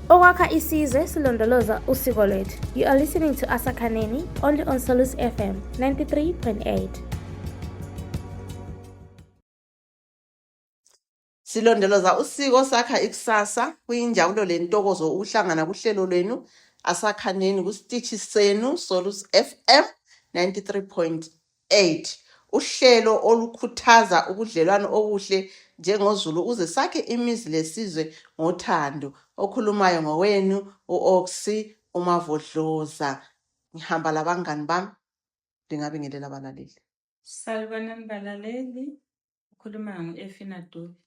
Okwakha isizwe silondoloza usiko lwethu. You are listening to Asa Kaneni only on Solus FM 93.8. Silondoloza usiko sakha ikusasa kuyinjabulo lentokozo ukuhlangana kuhlelo lwenu asakhaneni kusitishi senu Solus FM 93.8. 8 uhlelo olukhuthaza ubudlelwano obuhle njengozulu ukuze sakhe imizi lesizwe ngothando okhulumayo ngowenu u-oxy umavodloza ngihamba labangani bami ndingabingelela abalaleli salibonani balaleli ukhuluma ngu-efina dube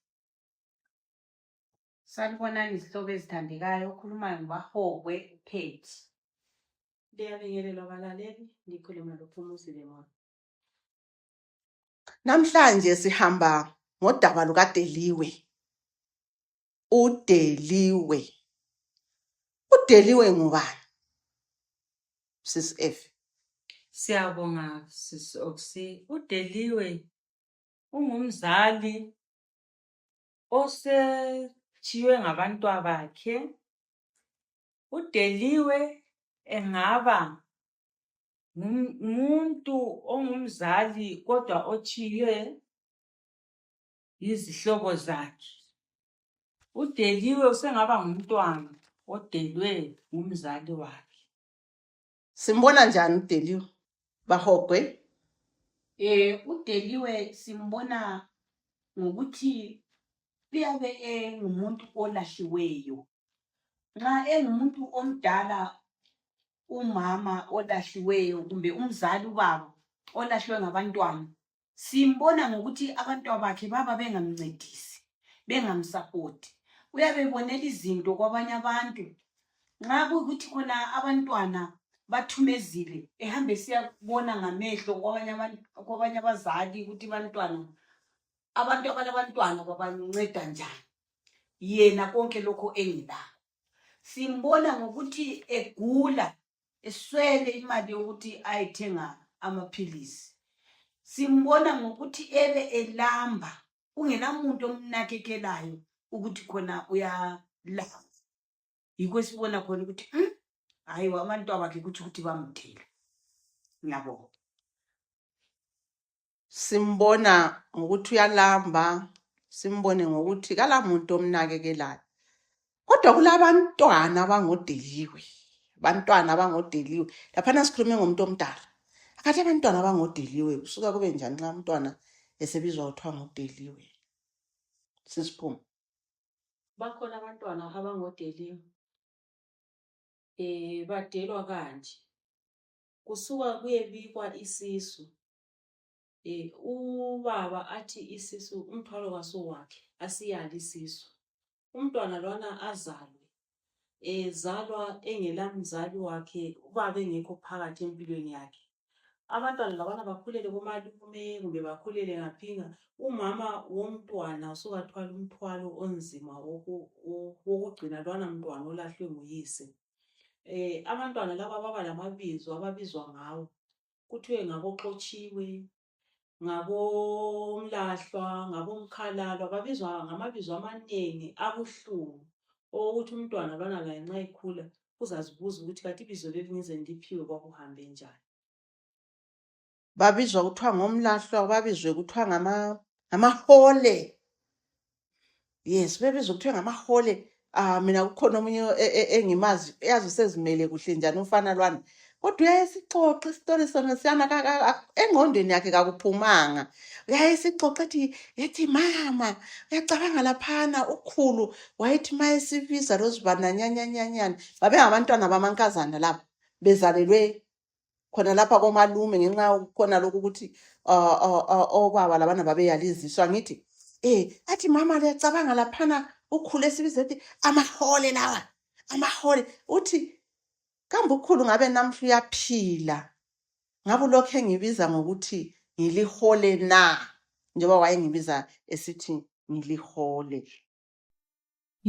Salibonani izihlobo ezithandekayo okhulumayo ngubahokwe uphethi liyabingelelwa balaleli ngikhuluma lophumuzi lemona namhlanje sihamba ngodaba lukadeliwe udeliwe udeliwe ngubani sis f siyabonga sis oxy udeliwe ungumzali osetshiywe ngabantwabakhe udeliwe engaba ngumuntu ongumzali kodwa otshiywe yizihlobo zakhe udeliwe usengaba ngumntwana odelwe ngumzali wakhe simbona njani udeliwe bahogwe eh udeliwe simbona ngokuthi uyabe engumuntu olahliweyo nxa engumuntu omdala umama olahliweyo kumbe umzali ubaba olahliwe ngabantwana simbona ngokuthi abantwabakhe baba bengamncedisi bengamsapoti uyabe ebonela izinto kwabanye abantu nxa kuyukuthi khona abantwana bathumezile ehambe siyabona ngamehlo kwabanye abazali ukuthi bantwana abantu abalabantwana babanceda njani yena konke lokho engilako simbona ngokuthi egula eswele imali yokuthi ayethenga amaphilisi simbona ngokuthi ebe elamba kungelamuntu omnakekelayo ukuthi khona uyalamba yikho esibona khona ukuthi hmm, hayi mm? abantu abakhe kutsho ukuthi bamdela ngiyabonga simbona ngokuthi uyalamba, simbone ngokuthi kalamuntu omnakekelayo. Kodwa kulabantwana abangodeliwe, abantwana abangodeliwe. Laphana sikhulume ngomuntu omdala. Akathi abantwana abangodeliwe, kusuka kube njani nxa umntwana esebizwa kuthiwa ngodeliwe? Sisiphuma. Bakhona abantwana abangodeliwe, um badelwa kanje. Kusuka kuyebikwa isisu eh, ubaba athi isisu umthwalo kasuwakhe asiyali isisu umntwana lwana azalwe ezalwa engela mzali wakhe ubaba engekho phakathi empilweni yakhe abantwana labana bakhulele komalume kumbe bakhulele ngaphinga umama womntwana usukathwala umthwalo onzima wokugcina lwana mntwana olahlwe nguyise um abantwana laba baba lamabizo ababizwa ngawo kuthiwe ngaboxotshiwe, ngabomlahlwa, ngabomkhalalwa babizwa ngamabizo amanengi abuhlungu okokuthi umntwana lwana laye nxa ekhula uzazibuza ukuthi kanti ibizo leli ngize ngiliphiwe kwakuhambe njani. Babizwa kuthiwa ngomlahlwa, babizwe kuthiwa ngamahole. yes bebiza kuthiwe ngamahole ah mina kukhona omunye e, e, engimazi yazi usezimele kuhle njani umfana lwana kodwa uyayesixoxa isitori sona siyana engqondweni yakhe kakuphumanga uyayesixoxa ethi yethi mama uyacabanga laphana ukhulu wayethi ma esibiza lozibananyanyanyanyana babengabantwana bamankazana laba bezalelwe khona lapha komalume ngenxa yokukhona lokhu ukuthi uh, uh, uh, obaba labana babeyaliziswa ngithi eh athi mama liyacabanga laphana ukhule sibiza ethi amahole lawa amahole uthi kambe ukhulu ngabe namhla uyaphila ngabe ulokhu engibiza ngokuthi ngilihole na njengoba wayengibiza esithi ngilihole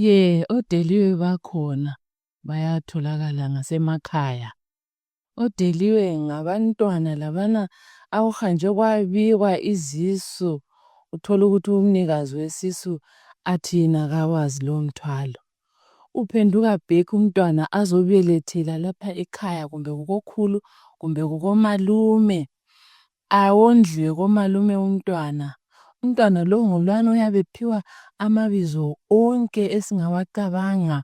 Ye, odeliwe bakhona bayatholakala ngasemakhaya. Odeliwe ngabantwana labana akuhanjwe kwabikwa izisu uthole ukuthi umnikazi wesisu athi yena kawazi lowo mthwalo. Uphenduka back umntwana azobelethela lapha ekhaya kumbe kukokhulu kumbe kukomalume awondliwe komalume umntwana. Umntwana lo ngulwana oyabe ephiwa amabizo onke esingawacabanga.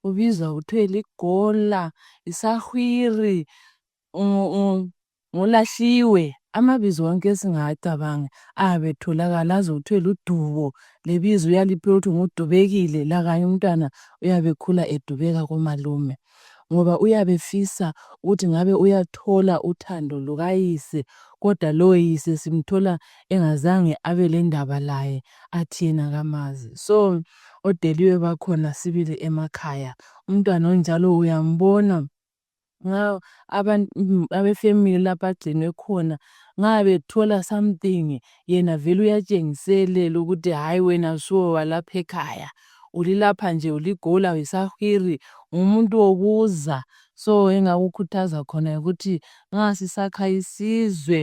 Ubizwa kuthiwe ligola, yisahwiri, ngulahliwe. Amabizo onke esingawacabanga ayabe etholakala aze kuthiwe ludubo lebizo uyaliphiwa ukuthi ngudubekile lakanye umntwana uyabe ekhula edubeka komalume. ngoba uyabe efisa ukuthi ngabe uyathola uthando lukayise kodwa lowo yise simthola engazange abe lendaba laye athi yena kamazi so odeliwe bakhona sibili emakhaya umntwana onjalo uyambona nxa abefamily lapha agcinwe khona nxa bethola something yena vele uyatshengiselela ukuthi hayi wena suwe walapha ekhaya ulilapha nje uligola uyisahwiri ngumuntu wokuza so engakukhuthaza khona ukuthi nxa sisakha isizwe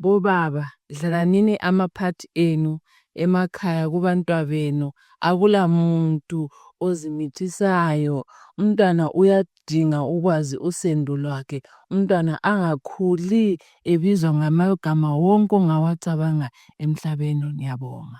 bobaba dlalanini amaphathi enu emakhaya kubantwabenu akula muntu ozimithisayo umntwana uyadinga ukwazi usendo lwakhe umntwana angakhuli ebizwa ngamagama wonke ongawacabanga emhlabeni ngiyabonga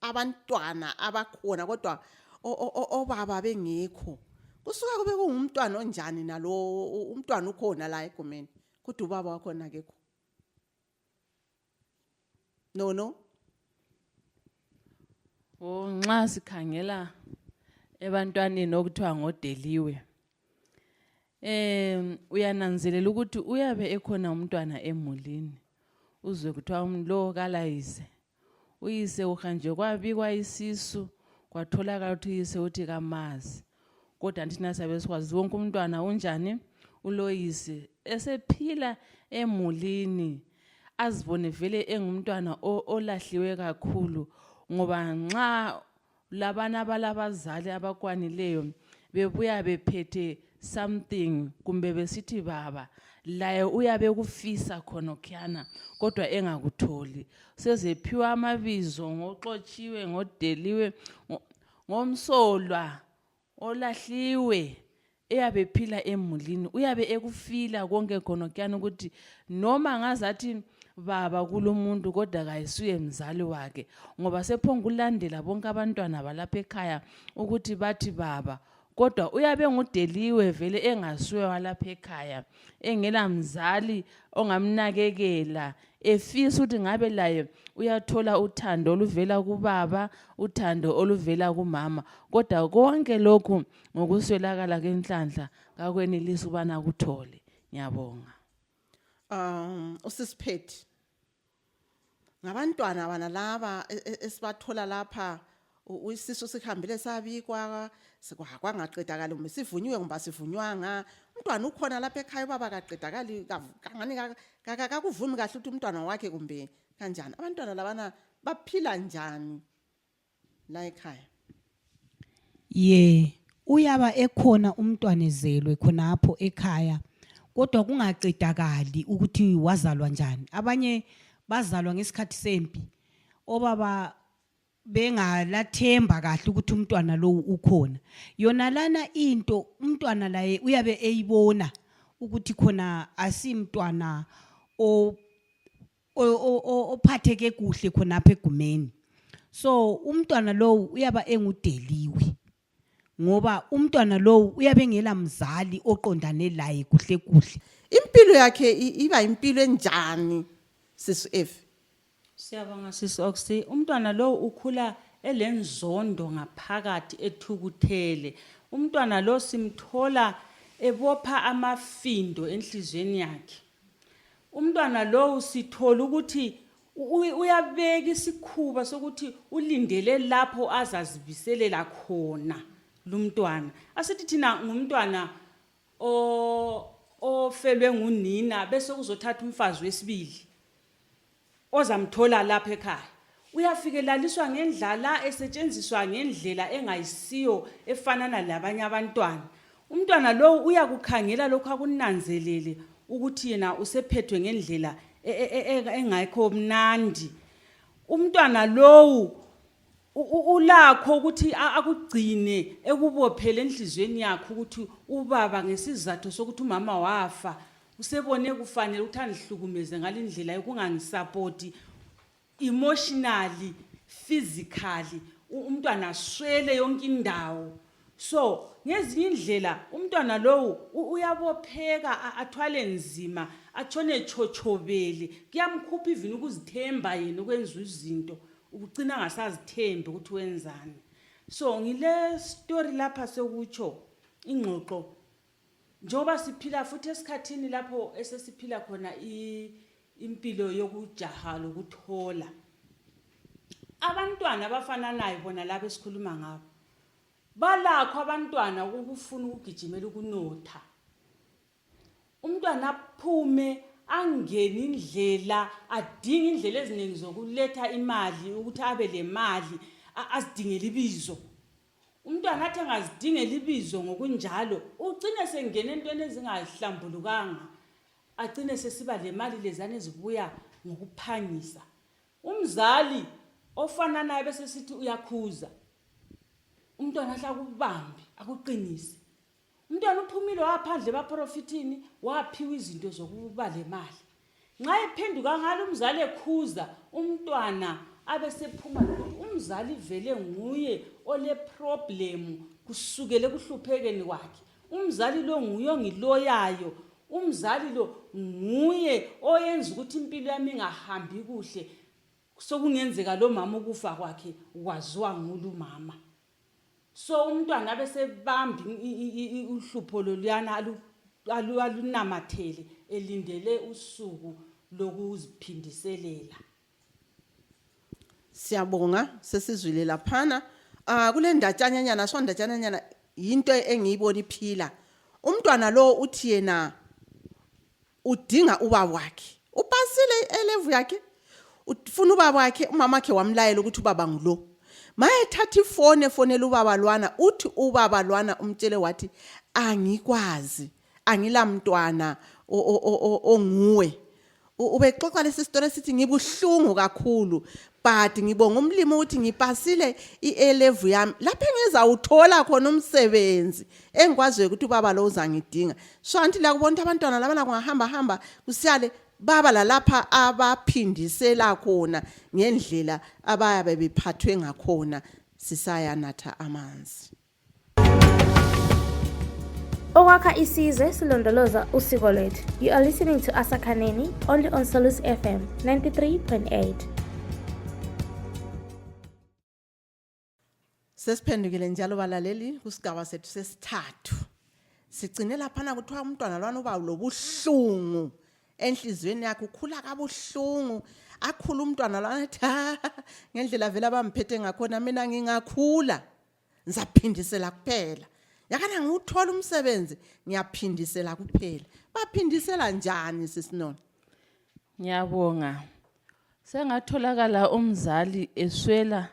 abantwana abakhona kodwa obaba bengekho kusuka kube kungumntwana onjani nalowo umntwana ukhona la egumeni kodwa ubaba wakhona kekho no no o nxa sikhangela ebantwaneni okuthiwa ngodeliwe um uyananzelela ukuthi uyabe ekhona umntwana emulini uzwe kuthiwa umlo kalayise uyise uhanjwe kwabikwa isisu kwatholakala ukuthi uyise uthi kamazi kodwa thina siyabe sikwazi wonke umntwana unjani uloyise esephila emulini azibone vele engumntwana olahliwe kakhulu ngoba nxa labana abalabazali abakwanileyo bebuya bephethe something kumbe besithi baba laye uyabe kufisa khonokhiyana kodwa engakutholi sezephiwa amabizo ngoxotshiwe ngodeliwe ngomsolwa olahliwe eyabe phila emulini uyabe ekufila konke khonokuyani ukuthi noma ngazathi baba kulomuntu kodwa kayisuye mzali wakhe ngoba sephongulandela bonke abantwana balapha ekhaya ukuthi bathi baba kodwa uyabe ngudeliwe vele engasuye walapha ekhaya engela mzali ongamnakekela efisa ukuthi ngabe laye uyathola uthando oluvela kubaba uthando oluvela kumama kodwa konke lokhu ngokuswelakala kwenhlanhla kakwenelisi ubana kuthole ngiyabonga um usisiphethi ngabantwana bana laba e, e, esibathola lapha U- isisu sihambile sabikwa sikwa- kwangaqedakali kumbe sivunyiwe kumbe asivunywanga umntwana ukhona lapha ekhaya ubaba akaqedakali kav- kangani ka- ka- ka- kakuvumi kahle ukuthi umntwana wakhe kumbe kanjani abantwana labana baphila njani la ekhaya ye uyaba ekhona umntwana ezelwe khonapho ekhaya kodwa kungaqedakali ukuthi wazalwa njani abanye bazalwa ngesikhathi sempi obaba bengalathemba kahle ukuthi umntwana lowu ukhona yona lana into umntwana laye uyabe eyibona ukuthi khona asimntwana ophatheke kuhle khonapha egumeni so umntwana lowu uyaba engudeliwe ngoba umntwana lowu uyabe engela mzali oqondane laye kuhle kuhle impilo yakhe i- iba impilo enjani sisu f Siyabonga sisi Oxy. Umntwana lo ukhula elenzondo ngaphakathi ethukuthele. Umntwana lo simthola ebopha amafindo enhlizweni yakhe. Umntwana lo sithola ukuthi uyabeka isikhuba sokuthi ulindele lapho azazibiselela khona lumntwana asithi thina ngumntwana o ofelwe ngunina bese uzothatha umfazi wesibili ozamthola lapha ekhaya uyafikelaliswa ngendlala esetshenziswa ngendlela engayisiyo efanana labanye abantwana umntwana lowu uyakukhangela lokhu akunanzelele ukuthi yena usephethwe ngendlela e, e, e, engayikho mnandi umntwana lowu ulakho ukuthi akugcine ekubophele enhliziyweni yakhe ukuthi ubaba ngesizathu sokuthi umama wafa usebone kufanele ukuthi angihlukumeze ngalindlela yokungangisapoti emotionally physically u- umntwana aswele yonke indawo so ngezinye indlela umntwana lowu u- uyabopheka a- athwale nzima atshone etshotshobele kuyamkhupha ivini ukuzithemba yena ukwenza izinto ukucina angasazithembi ukuthi wenzani so ngile story lapha sekutsho ingxoxo njengoba siphila futhi esikhathini lapho esesiphila khona impilo yokujaha lokuthola abantwana abafananayo bona laba esikhuluma ngabo balakho abantwana ukufuna ukugijimela ukunotha umntwana aphume angene indlela adinge indlela eziningi zokuletha imali ukuthi abe le mali azidingele ibizo umntwana athi angazidingela ibizo ngokunjalo ucine sengena entweni ezingahlambulukanga acine sesiba le mali lezane ezibuya ngokuphangisa umzali ofananayo bese sithi uyakhuza umntwana ahle akubambe akuqinise umntwana uphumile waphandle ebaprofithini waphiwa izinto zokuba le mali nxa ephenduka ngalo umzali ekhuza umntwana abesephuma lokuthi umzali vele nguye oleproblemu kusukele ekuhluphekeni kwakhe umzali lo nguye ongiloyayo umzali lo nguye oyenza ukuthi impilo yami ingahambi kuhle sokungenzeka lo mama ukufa kwakhe kwaziwa ngulu mama so umntwana abe sebamba uhlupho loluyana alunamathele elindele usuku lokuziphindiselela siyabonga sesizwile laphana ah kule ndatshanyanyana so ndatshanyanyana yinto engiyibona iphila umntwana lo uthi yena udinga ubaba wakhe upasile i-elevu yakhe ufuna ubaba wakhe umama wakhe wamlayela ukuthi ubaba ngulo mayethatha ifoni efonela ubaba lwana uthi ubaba lwana umtshele wathi angikwazi angilamntwana onguwe ubexoxa lesi sitori esithi ngibuhlungu kakhulu but ngibonga umlimi ukuthi ngipasile i-elevu yami lapho engizawuthola khona umsebenzi engikwaziyo ukuthi ubaba lo uzangidinga so anti lakubona ukuthi abantwana labana kungahamba hamba kusiyale baba lalapha abaphindisela khona ngendlela abayabe bephathwe ngakhona sisayanatha amanzi okwakha isizwe silondoloza usiko lwethu you are listening to asakhaneni only on solus fm 93.8 Sesiphendukile njalo balaleli kusigaba sethu sesithathu. Sigcine laphana kuthiwa umntwana lwana uba lobuhlungu enhliziyweni yakhe ukhula kabuhlungu akhula umntwana lwana athi "Ah, ngendlela vele abamphethe ngakhona mina ngingakhula ngizaphindisela kuphela yakana ngiwuthola umsebenzi ngiyaphindisela kuphela baphindisela njani sisinona Ngiyabonga. Sengatholakala umzali eswela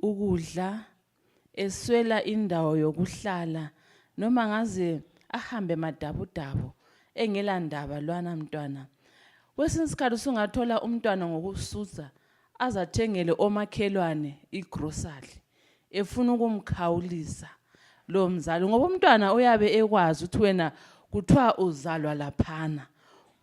ukudla, eswela indawo yokuhlala noma ngaze ahambe madabudabu engela ndaba lwana mntwana. Kwesinye isikhathi usungathola umntwana ngokususa azathengele omakhelwane igrocery efuna ukumkhawulisa lo mzali ngoba umntwana uyabe ekwazi ukuthi wena kuthiwa uzalwa laphana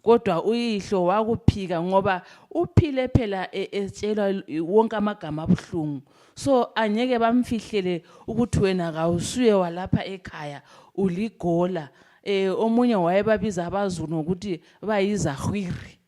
kodwa uyihlo wakuphika ngoba uphile phela e, etshelwa wonke amagama abuhlungu so angeke bamfihlele ukuthi wena kawusuye walapha ekhaya uligola um omunye wayebabiza abazulu ngokuthi bayizahwiri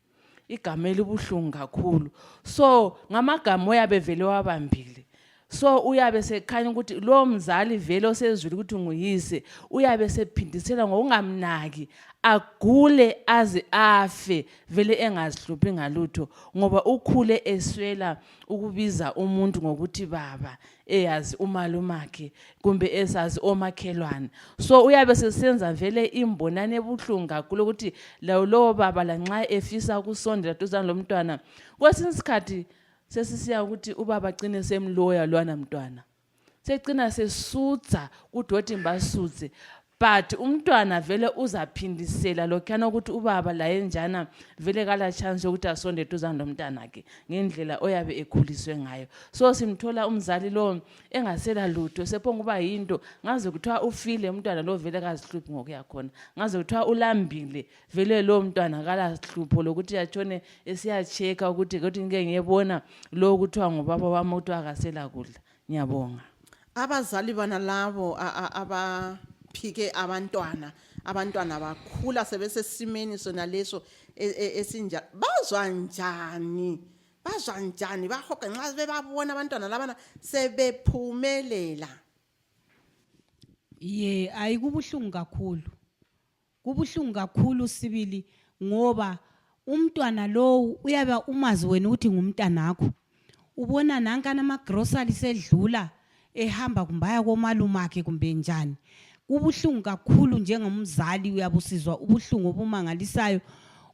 igama elibuhlungu kakhulu so ngamagama oyabe vele wabambile so uyabe sekhanya ukuthi lowo mzali vele osezwile ukuthi nguyise uyabe sephindisela ngokungamnaki agule aze afe vele engazihluphi ngalutho ngoba ukhule eswela ukubiza umuntu ngokuthi baba eyazi umalumakhe kumbe esazi omakhelwane so uyabe sesenza vele imbonane ebuhlungu kakhulu ukuthi lawo lowo baba lanxa efisa ukusondela duzane lomntwana kwesinye isikhathi sesisiya ukuthi ubaba cine semloya lwana mntwana secina sesutha kudoti mbasuthe but umntwana vele uzaphindisela lokhuyana ukuthi ubaba laye njana vele kala chance yokuthi asonde eduzane lomntanakhe ngendlela oyabe ekhuliswe ngayo so simthola umzali lowo engasela lutho sephonguba yinto ngaze kuthiwa ufile umntwana lowo vele kazihluphi ngokuya khona ngaze kuthiwa ulambile vele lowo mntwana kalahlupho lokuthi yatshone esiyacheka ukuthi ukuthi ngike ngiyebona lowo kuthiwa ngubaba wami ukuthi akasela kudla ngiyabonga abazali bana labo a- a- abaphike abantwana abantwana bakhula sebesesimeni sona leso e- e- esinja bazwa njani bazwa njani bahoga nxa bebabona abantwana labana sebephumelela ye ayi kubuhlungu kakhulu kubuhlungu kakhulu sibili ngoba umntwana lowu uyabe umazi wena ukuthi ngumntanakho ubona nankana amagrosali sedlula ehamba kumbe aya komalume akhe kumbe njani kubuhlungu kakhulu njengomzali uyabusizwa ubuhlungu obumangalisayo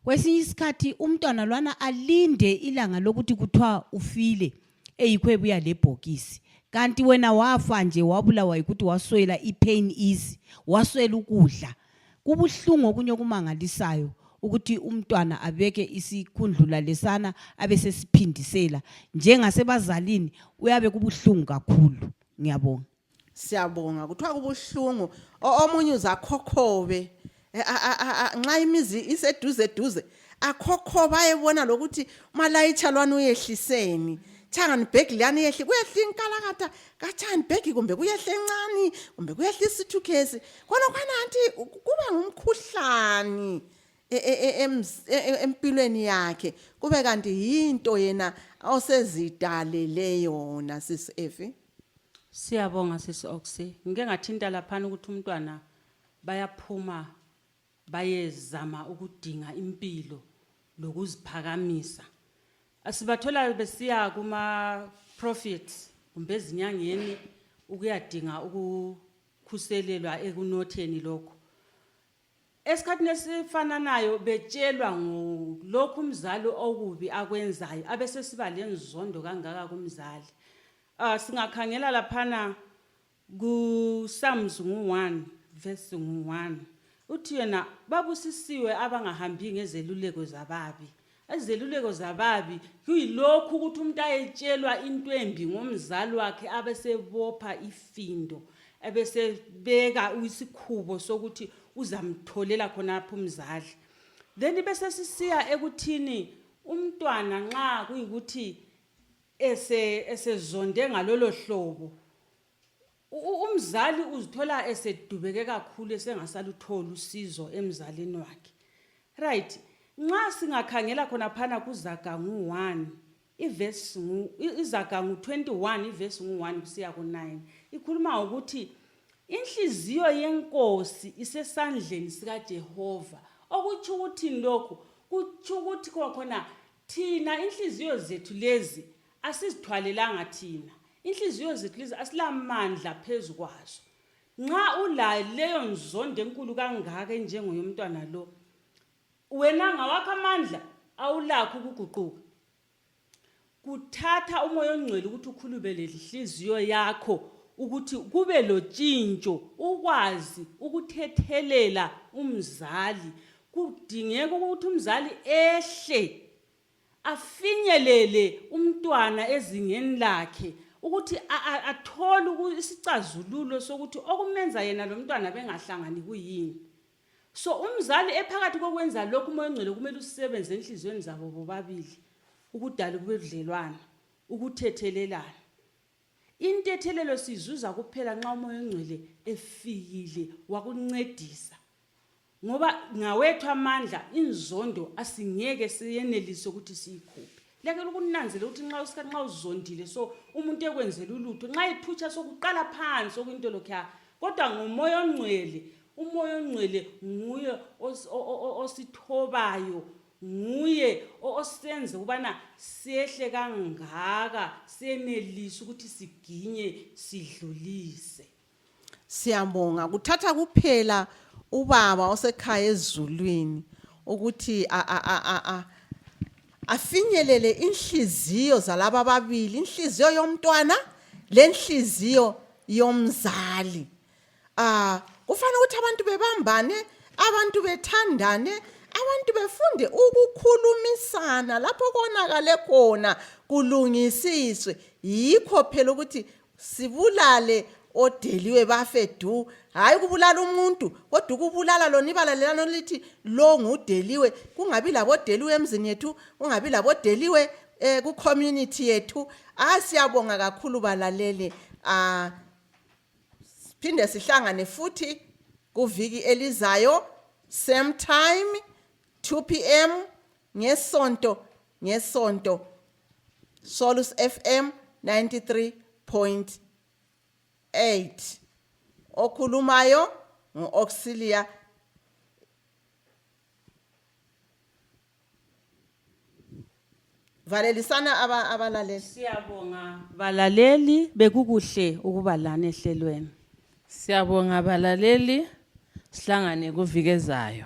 kwesinye isikhathi umntwana lwana alinde ilanga lokuthi kuthiwa ufile eyikho ebuya lebhokisi kanti wena wafa nje wabulawa yikuthi waswela ipain easy waswela ukudla kubuhlungu okunye okumangalisayo ukuthi umntwana abeke isikhundlula lesana abe sesiphindisela njengasebazalini uyabe kubuhlungu kakhulu ngiyabonga siyabonga kuthiwa kubuhlungu O- omunye uzakhokhobe Eh, a- a- a- a- nxa imizi iseduze duze akhokhobe ayebona lokuthi umalayitsha lwani uyehliseni changani bhegi liyani yehli kuyehla inkalakatha katshani bhegi kumbe kuyehla encane kumbe kuyehla isithukhesi khona khona anti kuba ngumkhuhlane e- e- e- emz- e- e- empilweni yakhe kube kanti yinto yena osezidalele yona sisi efi Siyabonga sisi Oxy. Ngike ngathinta laphana ukuthi umntwana bayaphuma bayezama ukudinga impilo lokuziphakamisa. Asibathola besiya kuma prophets kumbe ezinyangeni ukuyadinga ukukhuselelwa ekunotheni lokho. esikhathini esifananayo betshelwa ngolokhu umzali okubi akwenzayo abesesiba lenzondo kangaka kumzali uh, singakhangela laphana kuSams ngu-1 verse ngu-1 uthi yena babusisiwe abangahambi ngezeluleko zababi izeluleko zababi kuyilokhu ukuthi umuntu ayetshelwa into embi ngomzali wakhe abesebopha ifindo ebesebeka isikhubo sokuthi uzamtholela khonapho umzali then besesisiya ekuthini umntwana nxa kuyikuthi esezonde ngalolo hlobo umzali uzithola esedubeke kakhulu esengasalutholi usizo emzalini wakhe right nxa singakhangela khona phana kuzaga ngu-1 ivesi izaga ngu-21 ivesi ngu-1 kusiya ku-9 ikhuluma ngokuthi inhliziyo yenkosi isesandleni sikajehova okutsho ukuthini lokhu kutsho ukuthi khona thina inhliziyo zethu lezi asizithwalelanga thina inhliziyo zethu lezi asilamandla phezu kwazo nxa ulayo leyo nzondo enkulu kangaka enjengoyomntwana lo wena ngawakho amandla awulakho ukuguquka kuthatha umoya ongcwele ukuthi ukhulubele inhliziyo yakho ukuthi kube lotshintsho ukwazi ukuthethelela umzali kudingeka ukuthi umzali ehle afinyelele umntwana ezingeni lakhe ukuthi athole isicazululo sokuthi okumenza yena lo mntwana bengahlangani kuyini so umzali ephakathi kokwenza lokhu umoya ongcwele kumele usebenze enhliziyweni zabo bobabili ukudala kube budlelwana ukuthethelelana intethelelo sizuza kuphela nxa umoya ongcwele efikile wakuncedisa ngoba ngawethu amandla inzondo asingeke siyenelise ukuthi siyikhuphe lekela ukunanzela ukuthi nxa usikhathi nxa uzondile so umuntu ekwenzela ulutho nxa ephutsha sokuqala phansi okuyinto lokhu ya kodwa ngomoya ongcwele umoya ongcwele nguye osithobayo nguye osenze ukubana sehle kangaka senelise ukuthi siginye sidlulise siyabonga kuthatha kuphela ubaba osekhaya ezulwini ukuthi a a a a a afinyelele inhliziyo zalaba ababili inhliziyo yomntwana lenhliziyo yomzali ah kufanele ukuthi abantu bebambane abantu bethandane abantu befunde ukukhulumisana lapho konakale khona kulungisiswe yikho phela ukuthi sibulale odeliwe bafe du hayi ukubulala umuntu kodwa ukubulala lona ibala lelana lithi lo ngudeliwe kungabi labodeliwe emzini yethu kungabi labodeliwe eh ku community yethu ah siyabonga kakhulu balalele ah phinde sihlangane futhi kuviki elizayo same time 2 pm ngesonto ngesonto Solus FM 93.8 okhulumayo ngu-auxilia valelisana aba- abalaleli Siyabonga balaleli bekukuhle ukuba lani ehlelweni. Siyabonga balaleli sihlangane kuvikezayo.